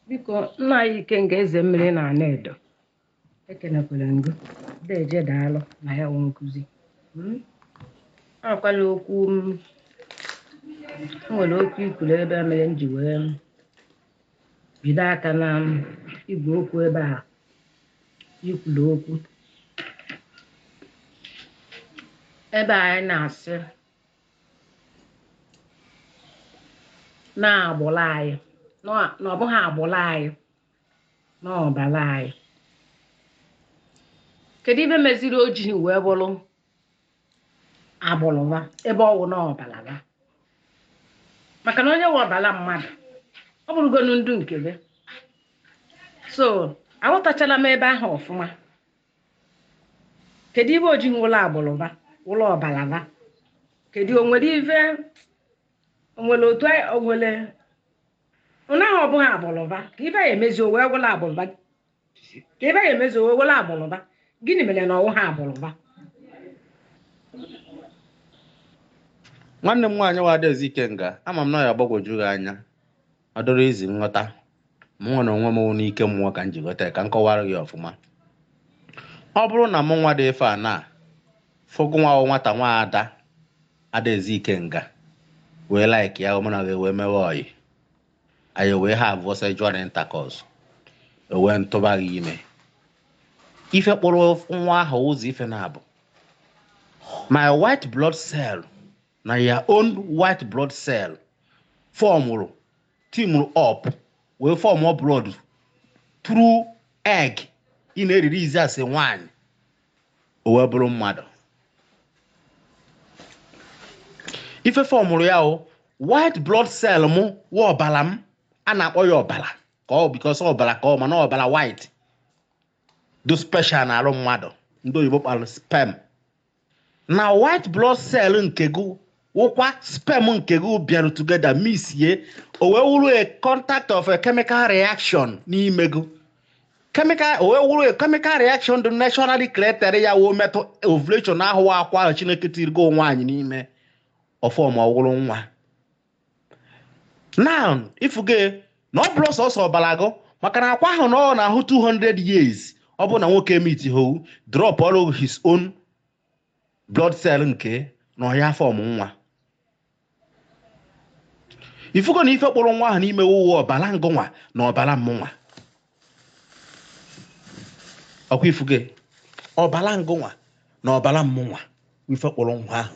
biko nna anyị ikenga eze mmiri na anaedo ekenekwara m gị deje daalụ na ya wụ nkụzi akwala okwu m nwere okwu i kwuru ebe a mere m ji wee bido aka na igwe okwu ebe a i kwulu okwu ebe anyị na-asị na agbụrụ anyị na ọ bụghị agbụrụ anyị na ọbara anyị kedu ive meziri o jighị wee bụrụ agbụrụ ha ebe ọ wụ na ọbara ha maka na onye nwe ọbara mmadụ ọ bụrụgonu ndụ nke gị so aghọtachala m ebe ahụ ọfụma kedu ive o ji wụrụ agbụrụ ha wụrụ ọbara ha kedu o nwere ive o nwere otu o nwere ụnaghị ọ bụghị agbụrụ ha ka ive ya emezi o wee wụrụ agbụrụ ha ka ive ya emezi o were agbụrụ ha gịnị mere na ọ wụhọ agbụrụ ha nwanne m nwaanyị wụ adaeze ikenga ama m na ya agbagwoju gị anya ọ dịrọ easy nghọta mụ nwa na onwe m n'ike mmụọ ka m ji ghọta ya ka m kọwara gị ọfụma ọ bụrụ na mụ nwa dị ife a na fụ gị nwa wụ nwata nwa ada adaeze ikenga wee like ya mụ na gị wee mewe ọyị anyị wee havuo sexual intercourse o wee m tụba gị ime ife kpụrụ nwa ahụ ụzọ ife naabọ my white blood cell na your own white blood cell formụrụ teamụrụ up wee formụọ blood through egg ị na-erelease as nwaanyị o wee bụrụ mmadụ ife formụrụ ya wụ white blood cell mụ wụ ọbara m a na-akpọ ya ọbara ka ọ because ọbara ka ọ mana ọbara white dị special na arụ mmadụ ndị oyibo kpọlụ sperm na white blood cell nke gị wụkwa sperm nke gị bịarụ together mixie o wee wụrụ a contact of a chemical reaction n'ime gị chemical o wee wụrụ a chemical reaction dị naturally created ya wee metụ ovulation ahụ akwa ahụ chineke tiri gị nwaanyị n'ime ọ formụọ wụrụ nwa now ị fụgo na ọ bụrọ sọsọ ọbara gị maka na akwa ahụ nọ na ahụ 200 years ọ bụ na nwoke emeetihọ drop all of his own blood cell nke na ọ ya-afọmụ nwa ifugo na ife kpụrụ nwa ahụ n'ime wụ ọbara ngụnwa na ọbara mmụnwa ọkwa ifugo ọbara ngụnwa na ọbara mmụnwa ife kpụrụ nwa ahụ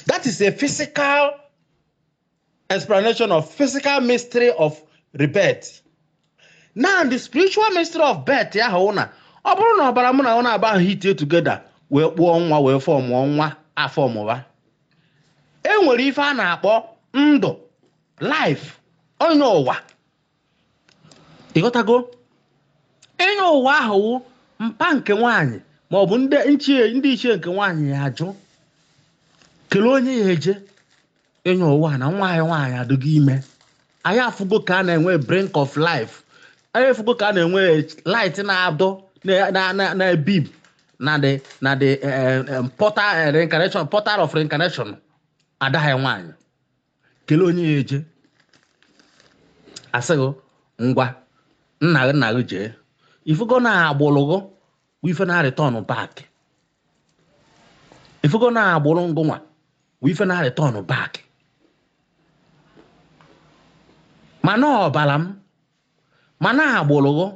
that is a physical explanation of physical mystery of rebirth now the spiritual mystery of birth ya wụ na ọ bụrụ na ọbara mụ na gị naabọ ahụ hitie together wee kpụọ nwa wee fọmụọ nwa a fọmụwa e nwere ife a na-akpọ ndụ life onye ụwa ịghọtago ịnyọ ụwa ahụ wụ mpa nke nwaanyị ma ọ bụ ndị nchie ndị ichie nke nwaanyị ya ajụ kelee onye ya eje ịnyọ ụwa na nwa anyị nwaanyị adịgo ime anyị afụgo ka a na-enwe brink of life anyị afụgo ka a na-enwe light na-adọ na- na- na- na-ebeep na the na the eh, eh, portal eh, reincarnation portal of reincarnation ada anyị nwaanyị kele onye ya eje a sị gị ngwa nna nna gị jee ifugo na agbụrụ gị bụ ife na return back ifugo na agbụrụ ngụnwa bụ ife na return back mana ọbara m mana agbụrụ gị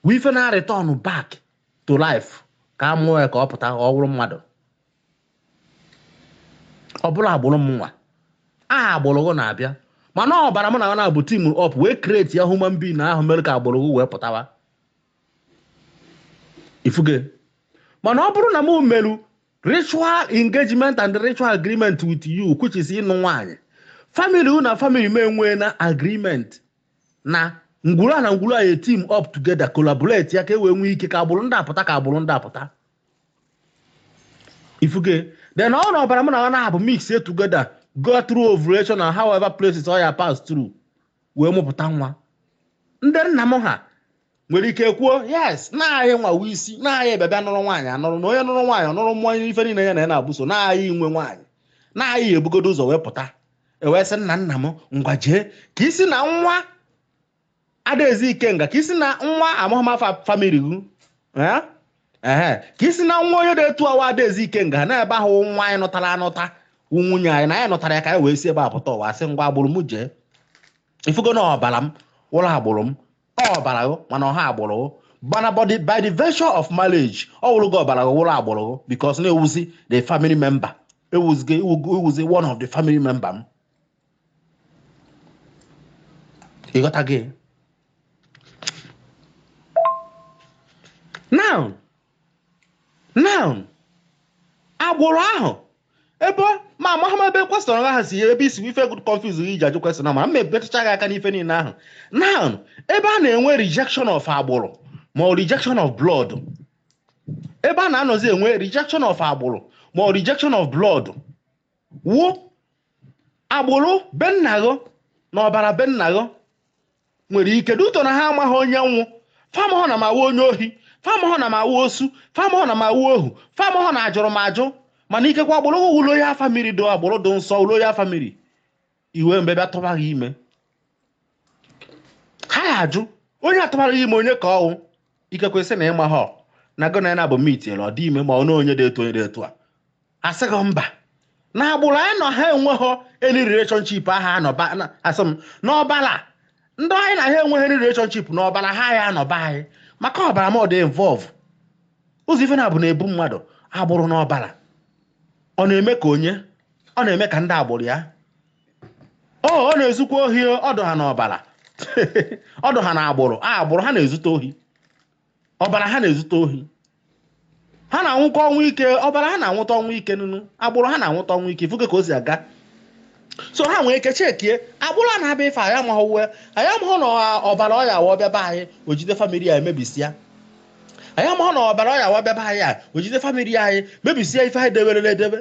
bụ ife na return back to life ka a mụọ ya ka ọ pụta ka ọ bụrụ mmadụ ọ bụrọ agbụrụ mụnwa aha agbụrụ gị na-abịa mana ọbara m na gị naabọ team up wee create ya human being ahụ mere ka agbụrụ gị wee pụtawa ifuge mana ọ bụrụ na m meru ritual engagement and ritual agreement with you which is ịnụ nwaanyị family gị na family m enwee na agreement na ngwuru a na ngwuru a eteam up together collaborate ya ka e wee nwee ike ka agbụrụ ndị apụta ka agbụrụ ndị apụta ifuge then ọ wụrụ na ọbara mụ na gị naabọ mix together go through ovulation na however places ọ ya pass through wee mụpụta nwa ndị nna m ha nwere ike kwuo yes na anyịnwa wụ isi na anyị bịa bịa nụrụ nwaanyị anụrụ na onye nụrụ nwaanyị ọ nụrụ mmụọ ife niile ya na ya naabọ so na anyị nwe nwaanyị na anyị ebugodo ụzọ wee pụta e wee sị nna nna m ngwa jee ka i si na nwa adaeze ikenga ka i si na nwa amụma family gị eh? ehe ka i si na nwa onye na-etu awa adaeze ikenga na ebe ọ wụ nwaanyị a nụtara anụta wụ nwunye anyị na anyị nụtara ya ka anyị wee si ebe a pụta ụwa sị ngwa agbụrụ m jee ifugo na ọbara m wụrụ agbụrụ m ọbara gị mana ọ họ agbụrụ gị mana by the virtue of marriage ọ wụrụgo ọbara gị wụrụ agbụrụ gị because na ị wụzi the family member ị wụzi one of the family member m ịghọtago now now agbụrụ ahụ ebe ma amaghị m ebe question ahụ si ebe isi ife good confuse gị iji ajụ question a ma m ebitụcha gị aka n'ife niile ahụ now ebe a na-enwe rejection of agbụrụ ma ọ rejection of blood ebe a na-anọzi enwe rejection of agbụrụ ma ọ rejection of blood wụ agbụrụ be nna gị na ọbara be nna gị nwere ike duto na ha amaghị onye m wụ fa amahụ na m awụ onye ohi fa amahụ na m awụ osu fa amahụ na m awụ ohu fa amahụ na ajụrụ m ajụ mana ikekwa agbụrụ gị wụ royal family dụ agbụrụ dị nsọ wụ royal family iwe mgbe bịa tụba gị ime ha ya-ajụ onye tụbara gị ime onye ka ọ wụ ikekwe sị na ị mahọ na gị na ya na-abụ meet ọ dị ime ma ọ na onye dị etu onye dị etu a asị gị mba na agbụrụ anyị na ha enweghị any relationship ahụ anọba asị m n'ọbala ndị anyị na ha enweghị any relationship n'ọbala ha ya-anọ be anyị maka ọbara m ọ dị involve ụzọ ife naabọ na-ebu mmadụ agbụrụ na ọbara ọ na-eme ka onye ọ na-eme ka ndị agbụrụ ya ọ ọ na-ezukwa ohi ọ dụ ha n'ọbara ọ dụ ha na agbụrụ a agbụrụ ha na-ezute ohi ọbara ha na-ezute ohi ha na-anwụkwa ọnwụ ike ọbara ha na-anwụta ọnwụ ike nụnụ agbụrụ ha na-anwụta ọnwụ ike ị fụgo ka o si aga so ha nwee ike chekie agbụrụ a na-abịa ife anyị amaghị uwe anyị amaghị na ọ- ọbara ọ ya-awụ ọ bịa be anyị o jide family ya emebisịa anyị amaghị na ọbara ọ ya-awụ ọ bịa be anyị a o jide family anyị mebisịa ife anyị deberele edebe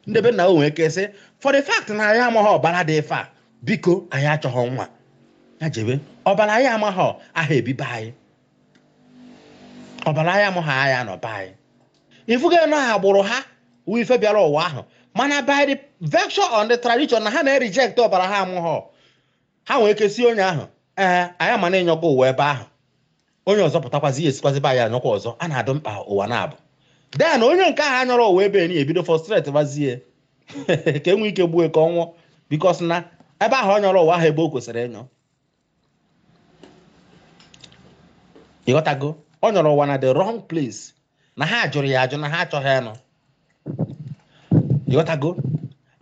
ndị be nna o nwee ike sị for the fact na anyị amaghị ọbara dị ife a biko anyị achọghị nwa ya jebe ọbara anyị amaghị aha ebi be anyị ọbara anyị amaghị anya nọ be anyị ị fụgo na agbụrụ ha wụ ife bịara ụwa ahụ mana by the virtue of the tradition na ha na-ereject ọbara ha amaghọ ha nwee ike sị onye ahụ ee ya ama anyọkwa ụwa ebe ahụ onye ọzọ pụtakwazi ya esikwazi be anyị nyọkwa ọzọ a na-adụ mkpa ụwa naabọ then onye nke ahụ nyọrọ ụwa be anyị ebido frustrate bazie ka e nwee ike gbuo ka ọ nwụọ because na ebe ahụ ọ nyọrọ ụwa ahụ ebe o kwesịrị ịnyọ ịghọtago ọ nyọrọ ụwa na the wrong place na ha jụrụ ya ajụ na ha achọghị ịnụ ịghọtago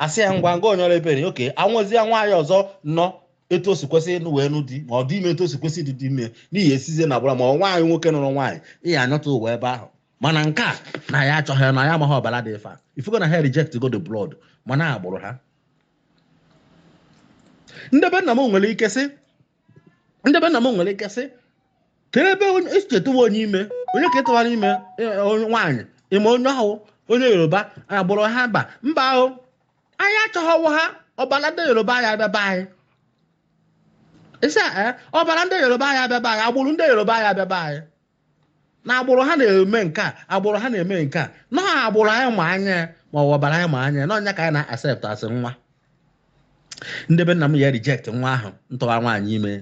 asị ya ngwa ngwa ọ nyọrọ ebere oke anwụzie nwaanyị ọzọ nụọ etu o si kwesị ịnụ wee nụ di ma ọ dị ime etu o si kwesị ịdị dị ime n'ihi esizie na agbụrụ ma ọ nwaanyị nwoke nụrụ nwaanyị ị ya-anyọta ụwa ebe ahụ mana nke a na ya achọghị ya na ya amaghị ọbara dị ife a ị fụgo na ha reject go the blood mana agbụrụ ha ndị be nna m nwere ike sị ndị be nna m nwere ike sị kee ebe esi tụwa onye ime onye ka atụwara ime e, onye nwaanyị ime onye ahụ onye yoruba agbụrụ ha mba mba ahụ anyị achọghị ọ wụ ha ọbara ndị yoruba anyị abịa be anyị ị sị ọbara ndị yoruba anyị abịa be anyị agbụrụ ndị yoruba anyị abịa be anyị na agbụrụ ha na-eme nke a agbụrụ ha na-eme nke a na agbụrụ anyị ma anya ma ọ ọbara anyị ma anya na ọ nya ka anyị na-accept asị nwa ndị be nna m ya reject nwa ahụ m tụwa nwaanyị ime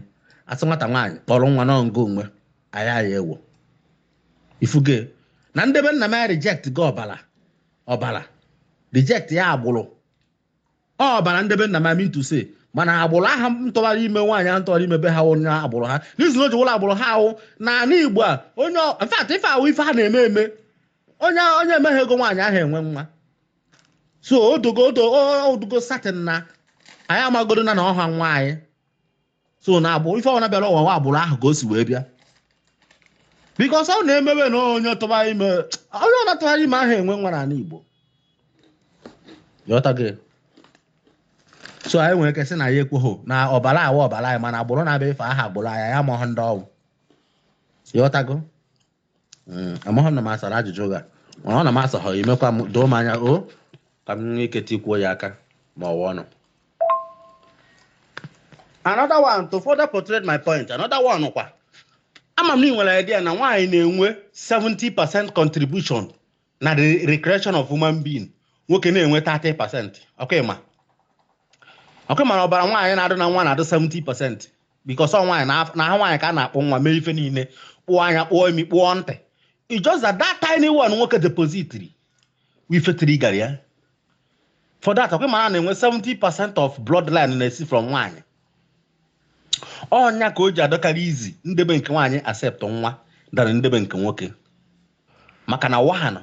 asị nwata nwaanyị kpọrọ nwa n'ọngụ onwe anyị anyị ewo ịfụgo na ndị be nna m ya reject gị ọbara ọbara reject ya agbụrụ ọbara ndị be nna m I mean to say mana agbụrụ aha m tụwara ime nwaanyị ahụ m tụwara ime be ha onye agbụrụ ha reason o ji wụrụ agbụrụ ha wụ na ala igbo a onye ọ- in fact ife ahụ ife ha na-eme eme onye onye emeghị ego nwaanyị aha enwe nwa so ọ dụgo ọ dụ ọ dụgo certain na anyị amagodo na na ọha nwa anyị so na agbụrụ ife ọbụla bịara ụwa nwa agbụrụ ahụ ka o si wee bịa because ọ na-emewe na onye tụba ime onye ọna tụgharị ime aha enwe nwa n'ala Igbo ịghọtago so anyị nwere ike sị na ya ekweghị na ọbara a wụ ọbara anyị mana agbụrụ na-abịa ife aha agbụrụ anyị amaghị ndị ọ wụ ịghọtago Mm, amaghị na m asara ajụjụ gị a mana ọ na m asaghọ ya i mekwa m doo m anya o ka m nwee ike tikwuo ya aka ma ọ wụ ọnụ another one to further portray my point another one kwa ama m na ị nwere idea na nwaanyị na-enwe 70 percent contribution na the recreation of human being nwoke na-enwe 30 percent ọkwa ịma ọkwa ịma na ọbara nwaanyị na-adị na nwa na-adị 70 percent because ọ nwaanyị na- na ahụ nwaanyị ka a na-akpụ nwa mee ife niile kpụọ anya kpụọ imi kpụọ ntị It's just that that tiny one nwoke depositiri wụ ife triggerra ya for that ọkwa ịma na a na-enwe 70 percent of bloodline na-esi from nwaanyị ọ nya ka o ji adịkarị easy ndebe nke nwaanyị accept nwa than ndebe nke nwoke maka na nwa ahụ nụ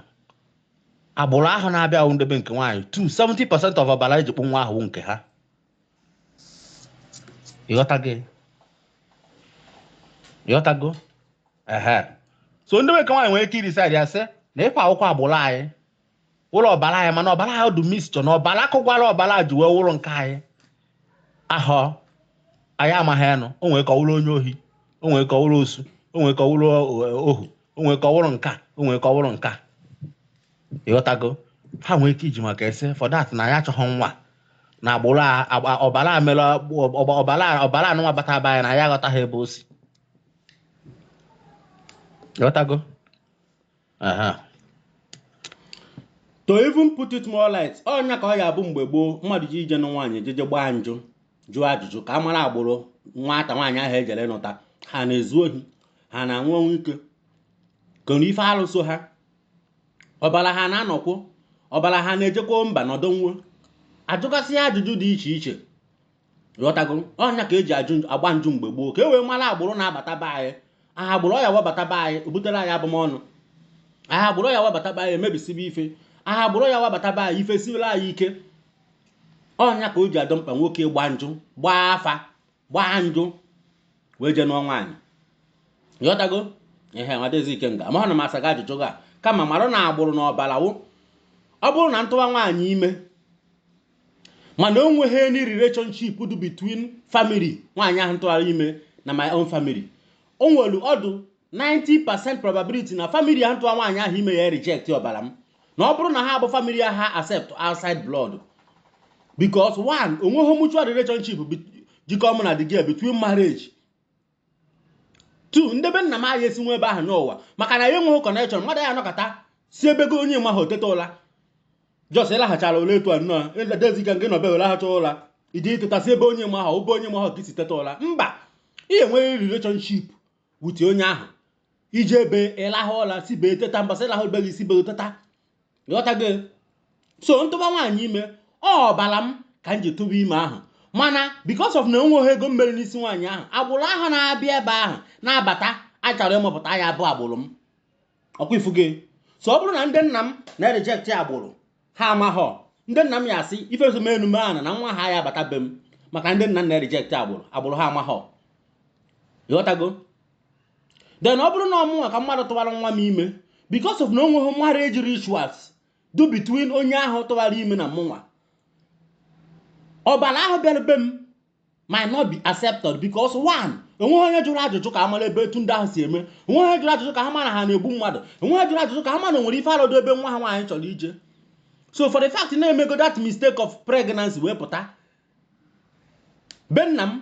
agbụrụ ahụ na-abịa ahụ ndebe nke nwaanyị 70 percent of ọbara eji kpụ nwa ahụ nke ha ịghọtago ịghọtago ehe so ndị nwoke nwaanyị nwere ike idecide ya sị na ịkwa akwụkwọ agbụrụ anyị wụrụ ọbara anyị mana ọbara ahụ dị mixture na ọbara akụkwara ọbara ji wee wụrụ nke anyị ahụ anyị amaghị anụ o nwere ike ọ wụrụ onye ohi o nwere ike ọ wụrụ osu o nwere ike ọ wụrụ eh, ohu o nwere ike ọ wụrụ nke a o nwere ike ọ wụrụ nke a ịghọtago ha nwere ike iji maka e sị for that na ya achọghị nwa na agbụrụ a- agba- ọbara a mere ọgba- ọbara a- ọbara anụnwa bata be anyị na ya aghọtaghị ebe o si ịghọtago aha to even put it more light ọ nya ka ọ ya-abụ mgbe gboo mmadụ jeje ịnụ nwaanyị e jeje gbaa njụ jụọ ajụjụ ka a mara agbụrụ nwata nwaanyị ahụ e jere ịnụta ha na-ezu ohi ha na-anwụ ọnwụ ike kee ife alụ so ha ọbara ha na-aṅụkwụ ọbara ha na-ejekwa mba nọdụ nwụọ a jụgasịa ajụjụ dị iche iche ghọtago ọ nya ka e ji ajụ agba njụ mgbe gboo ka e wee mara agbụrụ na-abata be anyị aha agbụrụ ya webata be anyị o butere anyị abụmọnụ aha agbụrụ ya webata be anyị e mebisibe ife aha agbụrụ ya webata be anyị ife siwere anyị ike ọ nya ka o ji adụ mkpa nwoke gbaa njụ gbaa afa gbaa njụ wee jee nụọ nwaanyị ghọtago ihe nwadezi Ikenga amahụ na m asa gị ajụjụ gị a kama mara na agbụrụ na ọbara wụ ọ bụrụ na m tụwa nwaanyị ime mana o nweghị any relationship dị between family nwaanyị ahụ m tụwara ime na my own family o nwere ọ dụ 90% probability na family ahụ m tụwara nwaanyị ahụ ime ya reject ọbara m na ọ bụrụ na ha bụ family ha accept outside blood because one o nweghị mutual relationship jikọ mụ na the girl between marriage two ndị be nna m anyị esi na be ha nọ ụwa maka na ya enweghị connection mmadụ ya anọkata si be onye ọ maha teta ụla just ị lahachara ụla etu a nnọọ edezika nke nọbe lahacha ụla i ji ụtụtụ si be onye ị maha ọ be onye ị maha ka i si teta ụla mba ị enweghị relationship with onye ahụ i ji ebe ị lahụ ụla si be ya teta mba sị ị lahụ be gị si be ya teta ịghọtago so m tụba nwaanyị ime ọ ọbara m ka m ji tụba ime ahụ mana because of na enweghị ego m mere n'isi nwaanyị ahụ agbụrụ ahụ na-abịa ebe ahụ na-abata a chọrọ ịmụpụta ya bụ agbụrụ m ọkwa ị fụgo so ọ bụrụ na ndị nna m na-reject agbụrụ ha amaghọ ndị nna m ya asị ife ezome enume ahụ na nwa ha ya abata be m maka ndị nna m na-reject agbụrụ agbụrụ ha amaghọ ịghọtago then ọ bụrụ na ọ mụnwa ka mmadụ tụwara nwa m ime because of na o nweghị marriage rituals dụ between onye ahụ tụwara ime na mụnwa ọbara ahụ bịara be m might not be accepted because one enweghị onye jụrụ ajụjụ ka a mara ebe etu ndị ahụ si eme enweghị onye jụrụ ajụjụ ka ha mara ha na-egbu mmadụ enweghị onye jụrụ ajụjụ ka ha mara nwere ife alụ dụ ebe nwa ha nwaanyị chọrọ ije so for the fact na e mego that mistake of pregnancy wee pụta be nna m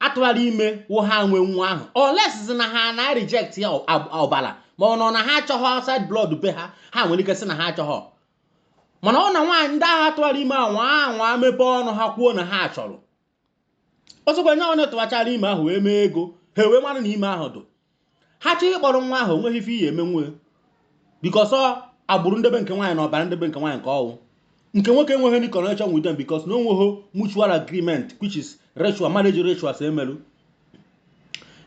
a tụwara ime wụ ha nwe nwa ahụ unless na ha na-reject ya ọbara ma ọ bụ na ha achọghọ outside blood be ha ha nwere ike sị na ha achọghọ mana ọ na nwaanyị ndị ahụ a tụwara ime anwa anwa mepee ọnụ ha kwuo na ha chọrọ ọzọkwa nye onye tụwachara ime ahụ wee mee ego ha wee mara na ime ahụ dụ ha chọọ ịkpọrọ nwa ahụ onweghị ife ị ya-eme nwu because agbụrụ ndebe nke nwaanyị na ọbara ndebe nke nwaanyị nke ọ wụ nke nwoke enweghị any connection with them because na onweghị mutual agreement which is ritual marriage rituals emelu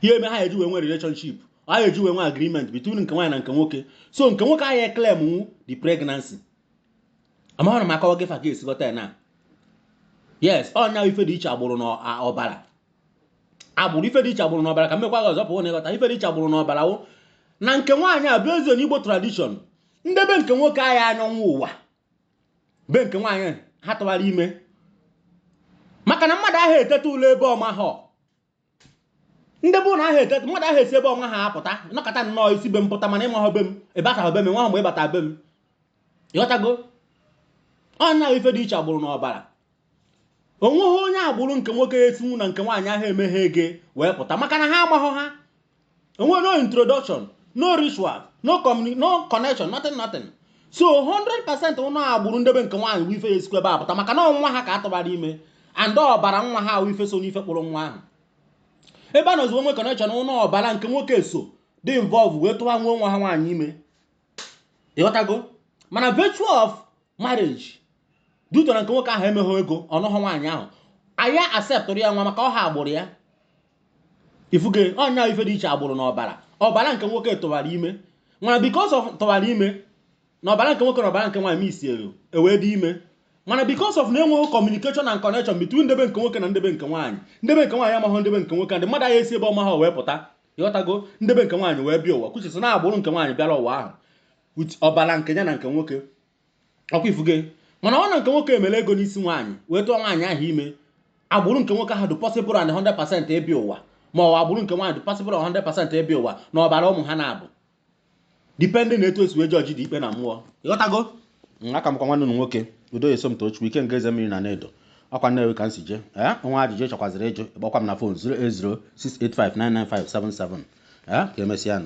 ihe eme ha eji wee nwe relationship ha eji wee nwe agreement between nke nwaanyị na nke nwoke so nke nwoke ahụ e-claim nwu the pregnancy amaghị na m akọwa gị fa ga-esi ghọta ya na yes ọ nya ife dị iche agbụrụ na ọbara agbụrụ ife dị iche agbụrụ n'ọbara ka m mekwa gị ọzọ pụọ na ị ghọta ife dị iche agbụrụ n'ọbara wụ na nke nwaanyị based on igbo tradition ndebe nke nwoke ahụ aya anọ ụwa be nke nwaanyị ha tụwara ime maka na mmadụ aha eteta ụla ebe ọ maha ndị bụ na aha eteta mmadụ aha esi ebe ọ maha apụta nọkọta nnọọ i si be m pụta mana ị maha be m ị bataghị be m nwa mgbe ị bata be m ịghọtago ọ nya ife dị iche agbụrụ n'ọbara onweghị onye agbụrụ nke nwoke esinwu na nke nwaanyị ahụ emeghị ego wee pụta maka na ha amaghọ ha enwe no introduction no ritual no no connection nothing nothing so 100% ụnụ agbụrụ ndebe nke nwaanyị wụ ife ya-esikwa ebe a pụta maka na nwa ha ka atụbara ime and ọbara nwa ha wụ ife so n'ife kpụrụ nwa ahụ ebe a nọzi onwe connection ụnụ ọbara nke nwoke so dị involve wee tụwa nwa nwa ha nwaanyị ime ịghọtago mana virtue of marriage due to na nke nwoke ahụ emeghị ego ọ nụghọ nwaanyị ahụ aya acceptụrụ ya nwa maka ọha agbụrụ ya ị fụgo ọ nya ife dị iche agbụrụ na ọbara ọbara nke nwoke tụwara ime mana because of tụwara ime na ọbara nke nwoke na ọbara nke nwaanyị isi elu ewee dị ime mana because of na enweghị communication and connection between ndebe nke nwoke na ndebe nke nwaanyị ndebe nke nwaanyị amaghị ndebe nke nwoke ndị mmadụ aha esi ebe ọ maha wee pụta ịghọtago ndebe nke nwaanyị wee bịa ụwa which is na agbụrụ nke nwaanyị bịara ụwa ahụ with ọbara nke ya na nke nwoke ọkwa ị fụgo mana ọ na nke nwoke emere ego n'isi nwaanyị wee tụọ nwaanyị ahụ ime agbụrụ nke nwoke ahụ dị possible and 100% ịbịa ụwa ma ọ agbụrụ nke nwaanyị dị possible 100% ịbịa ụwa na ọbara ụmụ ha naabọ depending na etu esi wee judge the ikpe na mmụọ ịghọtago aka m kwa nwanne ụnụ nwoke udo eso m tochukwu ikenga eze mmiri na anaedo ọkwa nnewi ka m si jee i nwee ajụjụ ị chọkwazịrị ịjụ ị kpọkwa m na fon 08068599577 ee ka emesịa nụ